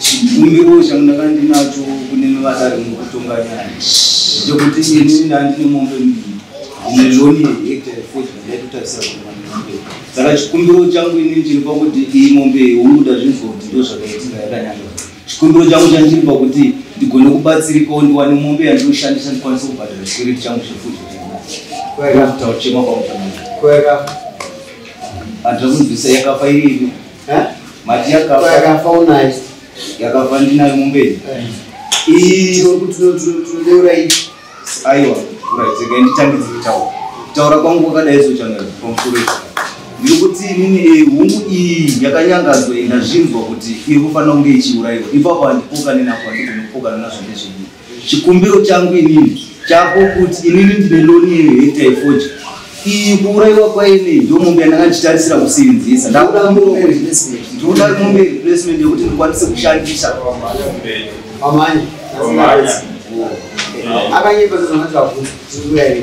Chikumbiro changu ndakandinacho kune mabasa ari mukutonga nyaya ndechekuti ini ndandine mombe mbiri ine loni yehectare foti ndaitotarisa kuvanhu mombe saka chikumbiro changu ini chiri pakuti iyi mombe yomuda zvinzoti ndo zvakaitika yakanyanga chikumbiro changu chandiri pakuti ndigone kubatsirikawo ndiwane mombe yandinoshandisa ndikwanise kubhadhara chikwiriti changu chefuti kuchema kwamutanaa andira kunzwisa yakafa irivi yakafaunayo yakafa ndinayo mumberi iyokutinotinodeura i aiwa uraiteka nditangidzi kutaura kutaura kwangu kwakadai zochanel from sureka ndiri kuti inini eh, hungu iyi yakanyangadzwa ndazvinzwa kuti iri kufanira kunge ichiurayiwa ipapo handipokanenako handizvinopokananazvo ndezvenyika chikumbiro changu inini chako kuti inini ndine loni yehekta yefoji iyi kuurayiwa kwaine ndo mombe yandanga ndichitarisira kusirinzisa ndakuda mombe ndikuda mombe replacement yekuti ndikwanise kushandisa amanye akanyepa zazanatavabvunza zikuyaii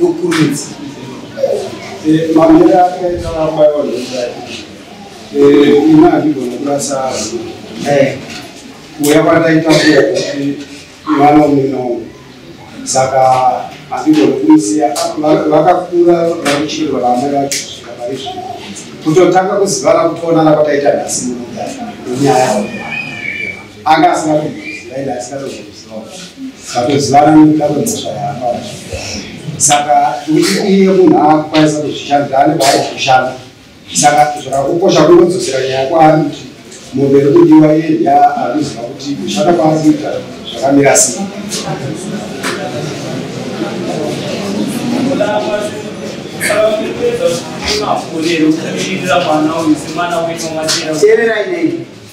Ukurudzi. Eh, mamere akaita vabayiwa nezai. Eh, ina handibona kurasa azi. Eh, kuya kwataita kuya kuti vana umwe Saka handibona kumusiya vakakura vakuchirwa vamwe vacho kusvika pari zvino. Kutotanga kuzivana kutoonana kwataita nhasi muno nyaya. anga asina kuziva ende asina kuzoziva satozivana nekutamba mhosva yaapa saka iye munhu akukwanisa kuzvishandira ane kwaari kushanda saka zvakakukosha kungodzosera nyaya kwaari kuti mombe iri kudiwa iye ndiya akuziva kuti kushanda kwaari kuita zvakamira sei Terera inei